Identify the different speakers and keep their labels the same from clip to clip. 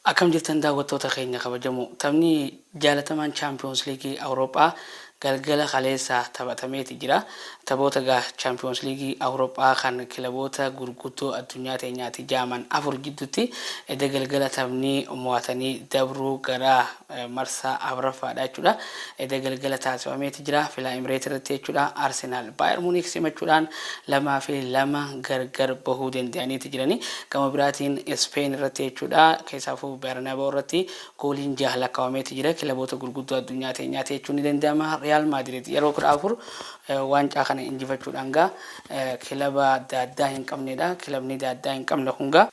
Speaker 1: Akkam jirtan daawwattoota keenya kabajamoo. Taphni jaalatamaan Chaampiyoons Liigii Awuroophaa galgala kaleessa taphatameeti jira. Taphoota egaa Chaampiyoons Liigii Awuroophaa kan kilaboota gurguddoo addunyaa teenyaati jaaman afur jidduutti edda galgala taphni mo'atanii dabruu gara marsaa afraffaadha jechuudha. Eda galgala taasifameeti jira Filaa Emireet irratti jechuudha. Arsenaal Baayer Muniik simachuudhaan 2 fi 2 gargar bahuu danda'aniiti jirani. Gama biraatiin Ispeen irratti jechuudha keessaafuu Bernabeu irratti gooliin 6 lakkawameeti jira. Kilaboota gurguddoo addunyaa teenyaati jechuun ni danda'ama. Riyaal Maadirid yeroo 14 waancaa kana injifachuudhaan gaa kilaba daaddaa hin qabneedha. Kilabni daaddaa hin qabne kun gaa.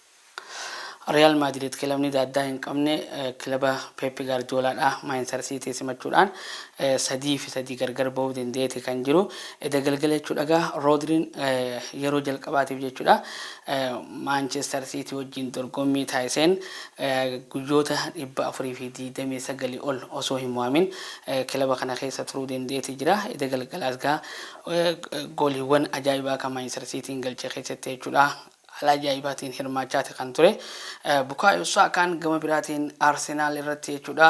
Speaker 1: Riyaal Maadiriid kilabni daaddaa hin qabne kilaba Peep Gaardiyoolaadhaa Maanchister Siitii simachuudhaan 3 fi 3 gargar ba'uu dandeeti kan jiru. Eda galgala jechuudha egaa Roodriin yeroo jalqabaatiif jechuudha Maanchister Siitii wajjin dorgommii taasiseen guyyoota 429 ol osoo hin mo'amin kilaba kana keessa turuu dandeeti jira. Eda galgalaas egaa gooliiwwan ajaa'ibaa kan Maanchister Siitiin galche keessatti jechuudha Haala ajaa'ibaatiin hirmaachaati kan ture Bukaayoo Saakaan gama biraatiin Arsenaal irratti jechuudha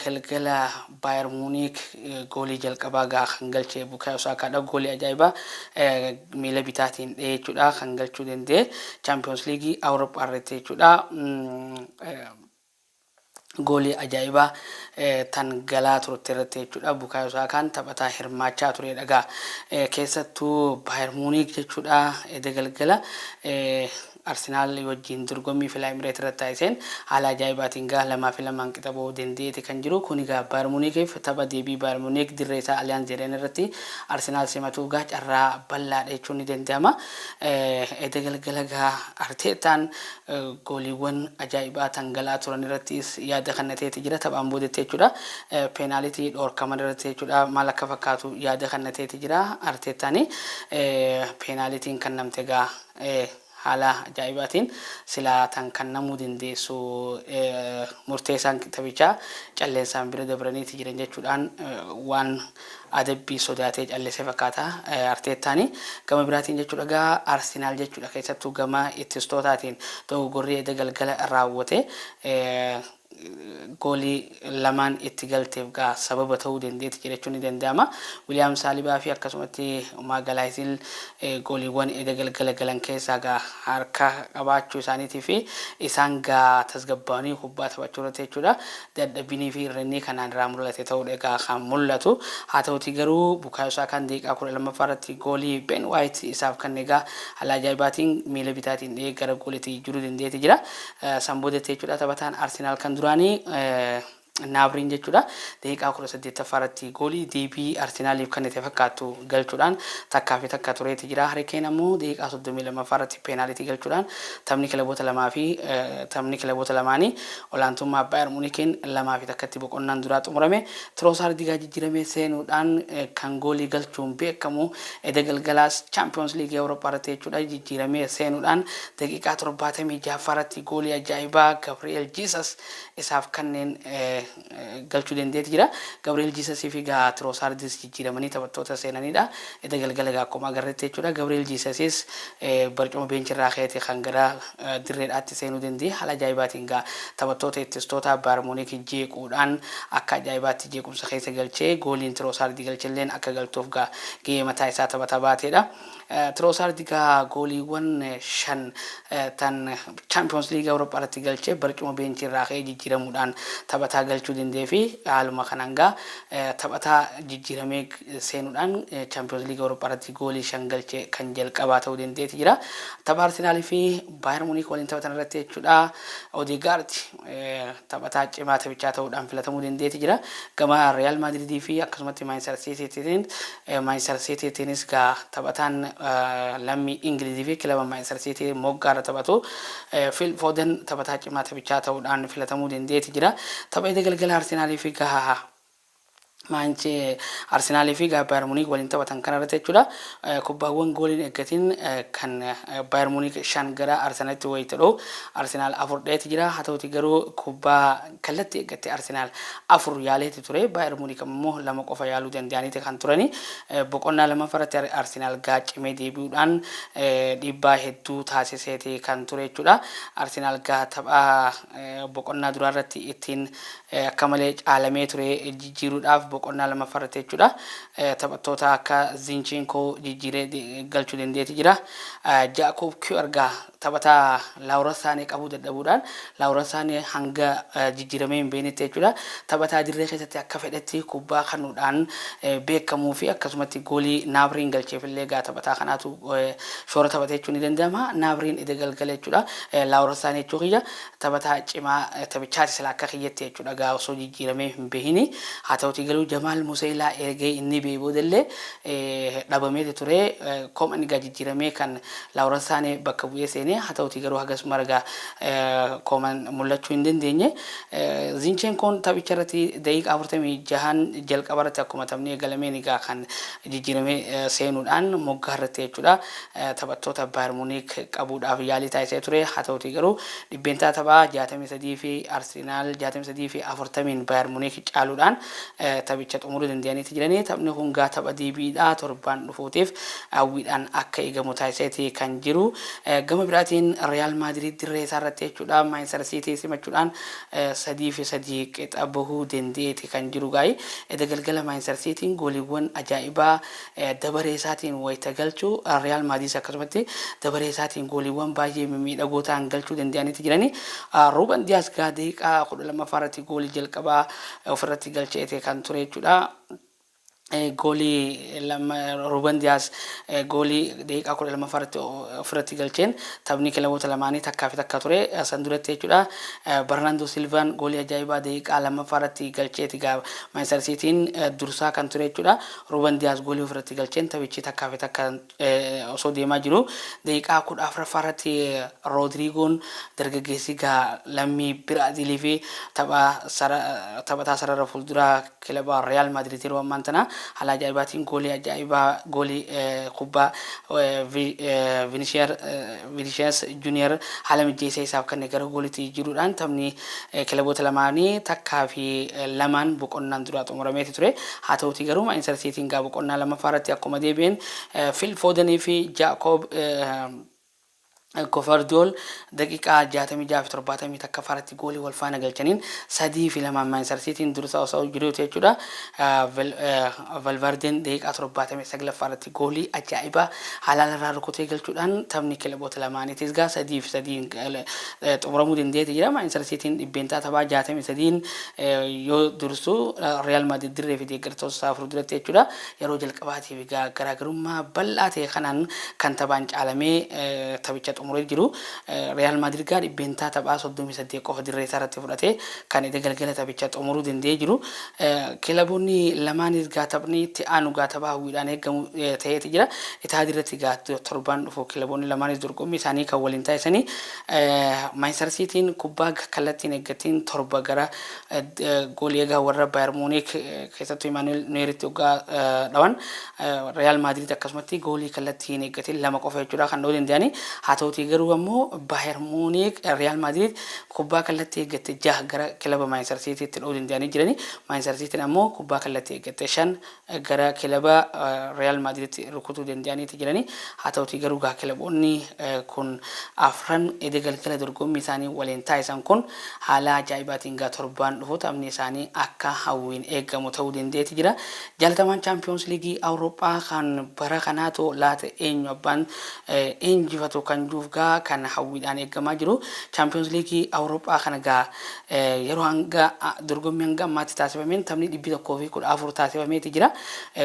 Speaker 1: galgala Baayer Muuniik goolii jalqabaa gaa kan galche Bukaayoo Saakaadha goolii ajaa'ibaa miila bitaatiin dhee jechuudha kan galchuu danda'e Chaampiyoons Liigii Awuroophaa irratti jechuudha. Goolii ajaa'ibaa tan galaa turte irratti jechuudha Bukaayoo Saakaan taphataa hirmaachaa tureedha egaa keessattuu Baayer Muuniik jechuudha eda galgala Arsenaal wajjiin dorgommii Filaa Imireet irratti taasiseen haala ajaa'ibaatiin egaa lamaa fi lamaan qixa ba'uu danda'eeti kan jiru kun egaa Baayer Muuniikiif tapha deebii Baayer Muuniik dirree isaa Aliyaan Zeedeen irratti Arsenaal simatuu egaa carraa bal'aadha jechuun ni danda'ama eda galgala egaa Arteettaan Gooliiwwan ajaa'ibaa tangala'aa turan irrattis yaada kannateeti jira. Taphaan boodetti jechuudha. Peenaalitii dhoorkaman irratti jechuudha. Maal akka fakkaatu yaada kannateeti jira. Arteettaan peenaalitiin kannamte egaa haala ajaa'ibaatiin silaa tan kannamuu dandeessu murteessaan taphichaa calleensaan bira dabraniiti jiran jechuudhaan waan adabbii sodaatee callise fakkaata Arteettaan. Gama biraatiin jechuudha egaa Arsenaal jechuudha keessattuu gama ittistootaatiin dogoggorri edda galgala raawwate goolii lamaan itti galteef egaa sababa ta'uu dandeetti jedhachuun ni danda'ama. Wiliyaam Saalibaa fi akkasumatti Maagalaayisiin gooliiwwan edda galgala galan keessaa egaa harka qabaachuu isaaniitii fi isaan egaa tasgabbaa'anii kubbaa taphachuu irratti jechuudha dadhabbiinii fi irrinnii kanaan irraa mul'ate ta'uudha egaa kan mul'atu. Haa ta'utii garuu Bukaayoo Saakaan daqiiqaa 12ffaa irratti goolii Ben Waayit isaaf kanne egaa haala ajaa'ibaatiin miila bitaatiin dhihee gara gooliitti jijjiiruu dandeeti jira. San boodatti jechuudha taphataan Arsenaal kan duraanii Naabiriin jechuudha daqiiqaa 18ffaa irratti goolii deebii Arsenaaliif kannite fakkaattu galchuudhaan takkaa fi takka tureeti jira. Harikeen ammoo daqiiqaa 32ffaa irratti peenaalitii galchuudhaan taphni kilaboota lamaa fi taphni kilaboota lamaanii olaantummaa Baayern Muunikiin 2 fi 1tti boqonnaan duraa xumurame. Tiroosaardi egaa jijjiiramee seenuudhaan kan goolii galchuun beekamu eda galgalaas Chaampiyoons Liigii Awurooppaa irratti jechuudha jijjiiramee seenuudhaan daqiiqaa 76ffaarratti goolii ajaa'ibaa Gabri'eel Jiisas isaaf kanneen galchuu danda'eeti jira. Gabri'eel Jiisasii fi egaa Tiroosaardis jijjiiramanii taphattoota seenanidha. Eda galgala egaa akkuma agarretti jechuudha. Gabri'eel Jiisasis barcuma beenchirraa ka'eeti kan gara dirreedhaatti seenuu danda'e. Haala ajaa'ibaatiin egaa taphattoota ittistoota Baayar Muunik jeequudhaan akka ajaa'ibaatti jeequmsa keessa galchee gooliin Tiroosaardi galchelleen akka galtuuf egaa gahee mataa isaa taphataa baateedha. Tiroosaardi egaa gooliiwwan shan tan Chaampiyoons Liigii Awurooppaarratti galche barcuma beenchii irraa ka'ee jijjiiramuudhaan taphataa galchuu dandeefi haaluma kanaan egaa taphataa jijjiiramee seenuudhaan Chaampiyoons Liigii Awurooppaarratti goolii shan galche kan jalqabaa ta'uu dandeeti jira. Tapha Arsenaaliifi Baayer Muniik waliin taphatan irratti jechuudha. Odeegaardi. taphataa cimaa taphichaa ta'uudhaan filatamuu dandeeti jira. Gama Riyaal Maadridii fi akkasumatti Maanchister Siitiitiin Maanchister Siitiitiinis gaa taphataan lammii Ingilizii fi kilaba Maanchister Siitii moggaarra taphatu Fiil Fooden taphataa cimaa taphichaa ta'uudhaan filatamuu dandeeti jira. Tapha eda galgala Arsenaalii fi gaha Maanch Arsenal fi egaa Bayer Munich waliin taphatan kana irratti jechuudha. Kubbaawwan gooliin eeggatiin kan Bayer Munich shan gara Arsenalitti wayita dho'u Arsenal afur dha'eeti jira. Haa ta'uti garuu kubbaa kallatti eeggatte Arsenal afur yaaleeti ture. Bayer Munich ammoo lama qofa yaaluu danda'aniiti kan turani. Boqonnaa lammaffaa irratti Arsenal gaa cimee deebi'uudhaan dhiibbaa hedduu taasiseeti kan ture jechuudha. Arsenal gaa tapha boqonnaa duraa irratti ittiin akka malee caalamee ture jijjiiruudhaaf boqonnaa lammaffaa irratti jechuudha taphattoota akka Zinchenko jijjiiree galchuu dandeeti jira. Jaakob Kiyoo argaa taphataa Laawuran Saanee qabuu dadhabuudhaan Laawuran Saanee hanga jijjiiramee hin beeknetti jechuudha taphataa dirree keessatti akka fedhetti kubbaa kanuudhaan beekamuu fi akkasumatti goolii Naabiriin galcheef illee egaa taphataa kanaatu shoora taphate jechuun ni danda'ama. Naabiriin eda galgala jechuudha Laawuran Saanee jechuu kiyya. Taphataa cimaa taphichaati silaa akka kiyyatti jechuudha gaa osoo jijjiiramee hin behiini. Haa ta'utii garuu Jamaal Museelaa ergee inni ba'e boodallee dhabameeti ture. Koman gaa jijjiiramee kan Laawuran Saanee bakka bu'ee seene. Haa ta'utii garuu hagas mara gaa Koman mul'achuu hin dandeenye. Zinchenkoon taphicha irratti daqiiqaa 46n jalqaba irratti akkuma taphni eegalameen gaa kan jijjiiramee seenuudhaan moggaa irratti jechuudha taphattoota Baayar Muuniik qabuudhaaf yaalii taasisee ture. Haa ta'uutii garuu dhibbeentaa taphaa 63 fi Arsenaal 63 fi 40n Baayar Muuniik caaluudhaan taphicha xumuruu danda'aniiti jirani. Taphni kun gaa tapha deebiidha. Torbaan dhufuutiif hawwiidhaan akka eegamu taasiseeti kan jiru. Gama biraatiin Riyaal Maadiriid dirree isaarratti jechuudha Maanchistar Siitii simachuudhaan 3 fi 3 qixa bahuu dandeeti kan jiru gaa'ii eda galgala Maanchistar Siitiin gooliiwwan ajaa'ibaa dabaree isaatiin wayita galchu Riyaal Maadiis akkasumatti dabaree isaatiin gooliiwwan baay'ee mimmiidhagoo ta'an galchuu danda'aniiti jirani. Ruuben Diyaas gaa daqiiqaa 12ffaa irratti goolii jalqabaa ofirratti galcheete kan ture jechuudha. Goolii Ruuben Diyaaz goolii daqiiqaa 12ffaa irratti ofirratti galcheen taphni kilaboota lamaanii takkaa fi takka ture san duratti jechuudha. Barnaandoo Silvaan goolii ajaa'ibaa daqiiqaa 2ffaa irratti galcheeti gaa Maanchistar Siitiin dursaa kan ture jechuudha. Ruuben Diyaaz goolii ofirratti galcheen taphichi takkaa fi takka osoo deemaa jiruu daqiiqaa 14ffaa irratti Roodiriigoon dargaggeessi gaa lammii Biraaziilii fi taphataa sarara fuulduraa kilaba Riyaal Maadiriid yeroo ammaan tana haala ajaa'ibaatiin goolii ajaa'ibaa goolii kubbaa Vinishiyaar Vinicius Junior haala mijjeessee isaaf kenne gara gooliitti jijjiiruudhaan taphni kilaboota lamaanii takkaa fi lamaan boqonnaan duraa xumurameeti ture. Haa ta'uutii garuu Maanchister Siitiin gaa boqonnaa lammaffaa irratti akkuma deebi'een Phil Foden fi Jacob Gvardiol daqiiqaa 66 fi 71ffaa irratti goolii wal faana galchaniin 3 fi 2'n Maanchister Siitiin dursaa osoo jiruuti jechuudha. Valverdeen daqiiqaa 79ffaa irratti Goolii ajaa'ibaa halaal irraa rukutee galchuudhaan taphni kilaboota lamaaniitiis egaa 3 fi 3'n xumuramuu danda'eeti jira. Maanchistar Siitiin dhibbeentaa taphaa 63'n yoo dursu Riyaal Maadrid dirree fi deeggartoota isaa fuulduratti jechuudha yeroo jalqabaatiif egaa garaagarummaa bal'aa ta'e kanaan kan taphaan caalamee taphicha xumuree jiru. Riyaal Maadrid egaa dhibbeentaa taphaa 38 qofa dirree isaa irratti fudhatee kan eda galgala taphicha xumuruu danda'ee jiru. Kilaboonni lamaanis gaa taphni itti aanu gaa tapha hawwiidhaan eegamu ta'eeti jira. Itaad irratti gaa torbaan dhufu kilaboonni lamaanis dorgommii isaanii kan waliin taasisanii Maanchistar Siitiin kubbaa kallattiin eeggattiin torba gara goolii egaa warra Baayar Muuniik keessattuu Imaanu'eel Nuweeritti oggaa dhawan Riyaal Maadiriid akkasumatti goolii kallattii hin eeggatiin lama qofa jechuudha kan dha'uu danda'anii. Haa ta'utii garuu ammoo Baayar Muuniik Riyaal Maadiriid kubbaa kallattii eeggatte 6 gara kilaba Maanchistar Siitiitti dha'uu danda'anii jirani. Maanchistar Siitiin ammoo kubbaa kallattii eeggatte 5 gara kilaba Riyaal Maadiriitti rukutuu danda'aniiti jirani. Haa ta'utii garuu gaa kilaboonni kun afran eda galgala dorgommii isaanii waliin taasisan kun haala ajaa'ibaatiin gaa torbaan dhufu taphni isaanii akka hawwiin eegamu ta'uu danda'eeti jira. Jaalatamaan Chaampiyoonsi Liigii Awurooppaa kan bara kanaatoo laata eenyu abbaan injifatu kan juuf gaa kan hawwiidhaan eeggamaa jiru Chaampiyoons Liigii Awuroophaa kana gaa yeroo hanga dorgommii hanga ammaatti taasifameen taphni 114 taasifameeti jira.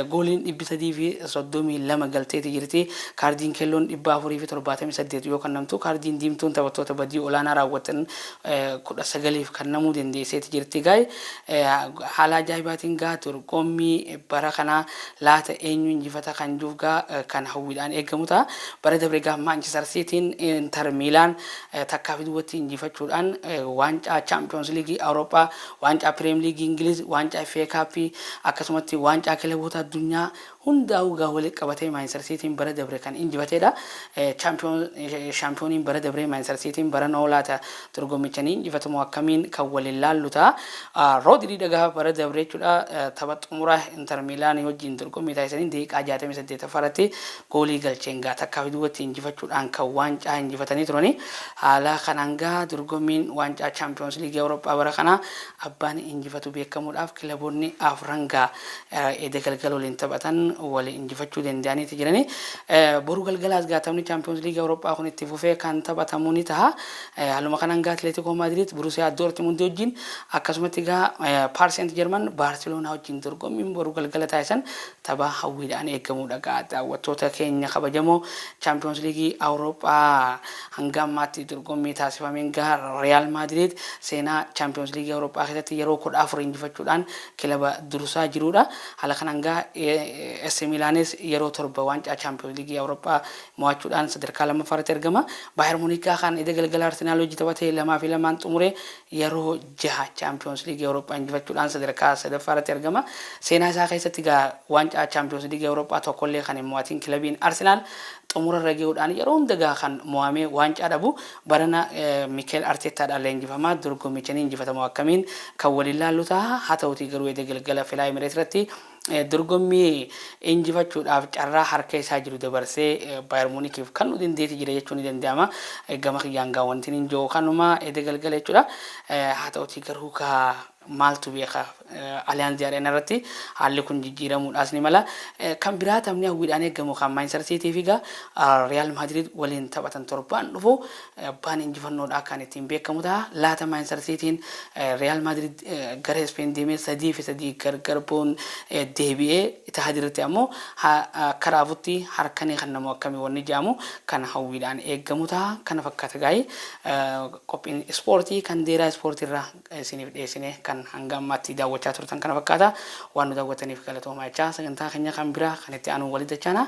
Speaker 1: Gooliin 332 galteeti jirti. Kaardiin keelloon 478 yoo kannamtu kaardiin diimtuun taphattoota badii olaanaa raawwatan 19f kannamuu dandeesseeti jirti. Gaay haala ajaa'ibaatiin gaa dorgommii bara kanaa laata eenyu injifata kan juuf gaa kan hawwiidhaan eegamu ta'a. Bara dabre gaa Maanchister Siitiin Inter Miilaan takkaa fi duwwatti injifachuudhaan waancaa Chaampiyoonsi Liigii Awurooppaa, waancaa Piriim Liigii Ingiliz, waancaa FA Kaappii akkasumatti waancaa kilaboota addunyaa hundaa'uu gaa wali qabatee Maanchister Siitiin bara dabre kan injifateedha. Shaampiyooniin bara dabree Maanchister Siitiin bara noo laata Dorgommicha ni injifatu moo akkamiin kan waliin laallu ta'a. Roodrii dhagaha bara dabre jechuudha tapha xumura Inter Miilaanii wajjin dorgommii taasisaniin daqiiqaa 68ffaa irratti goolii galcheen gaa takkaa fi duubatti injifachuudhaan kan waancaa injifatanii turanii. Haala kanaan gaa dorgommiin waancaa Chaampiyoons Liigii Awurooppaa bara kanaa abbaan injifatu beekamuudhaaf kilaboonni afran gaa eda galgala waliin taphatan wal injifachuu danda'aniiti jiranii. Boru galgalaas gaa taphni Chaampiyoons Liigii Awurooppaa kun itti fufee kan taphatamu ni taha. Haaluma kanaan egaa Atileetikoo Maadiriid Burusiyaa Doortimundii wajjin akkasumatti egaa Paar Seent Jarman Baarseloonaa wajjin dorgommiin boru galgala taasisan tapha hawwiidhaan eegamuudha egaa daawwattoota keenya kabajamoo Chaampiyoons Liigii Awurooppaa hanga ammaatti dorgommii taasifameen egaa Riyaal Maadiriid seenaa Chaampiyoons Liigii Awurooppaa keessatti yeroo 14 injifachuudhaan kilaba dursaa jiruudha. Haala kanaan egaa AC Milaanis yeroo 7 waancaa Chaampiyoons Liigii Awurooppaa mo'achuudhaan sadarkaa 2ffaa irratti argama. Baayer Muniik Gaakaan eda galgala Arsenaal wajji taphate 2 fi 2n xumure yeroo 6 Chaampiyoons Liigii Awurooppaa injifachuudhaan sadarkaa 3ffaa irratti argama. Seenaa isaa keessatti egaa waancaa Chaampiyoons Liigii Awurooppaa tokkollee kan hin mo'atiin kilabiin Arsenaal xumura irra ge'uudhaan yeroo hunda egaa kan mo'amee waancaa dhabu. Barana Mikeel Arteettaadhaan leenjifamaa dorgommicha ni injifatamoo akkamiin kan waliin laallu taha. Haa tahutii garuu eda galgala Fly Emirates irratti Dorgommii injifachuudhaaf carraa harka isaa jiru dabarsee Baayar Muunikiif kannuu dandeetti jira jechuun ni danda'ama. Gama kiyyaan gaa wanti hin jiru kanuma eda galgala jechuudha. Haa ta'utii garuu gaa maaltu beeka Aliyaanzi Areenaa irratti haalli kun jijjiiramuudhaas ni mala. Kan biraa taphni hawwiidhaan eegamu kan Maanchistar Siitii fi gaa Riyaal Maadiriid waliin taphatan torbaan dhufu Abbaan injifannoodhaa kan ittiin beekamu ta'a. Laata Maanchistar Siitiin Riyaal Maadriid gara Ispeen deemee 3 fi 3 gargar ba'uun deebi'ee Itihaad irratti ammoo akka raafutti harka ni kennamu akkami wanni jedhamu kan hawwiidhaan eegamu ta'a. Kana fakkaata gaa'ii qophiin ispoortii kan deeraa ispoortii irraa isiniif dhiyeessine kan hanga ammaatti daawwachaa turtan kana fakkaata. Waan nu daawwattaniif galatoomaa jechaa sagantaa keenya kan biraa kan itti aanuun walitti dachaana.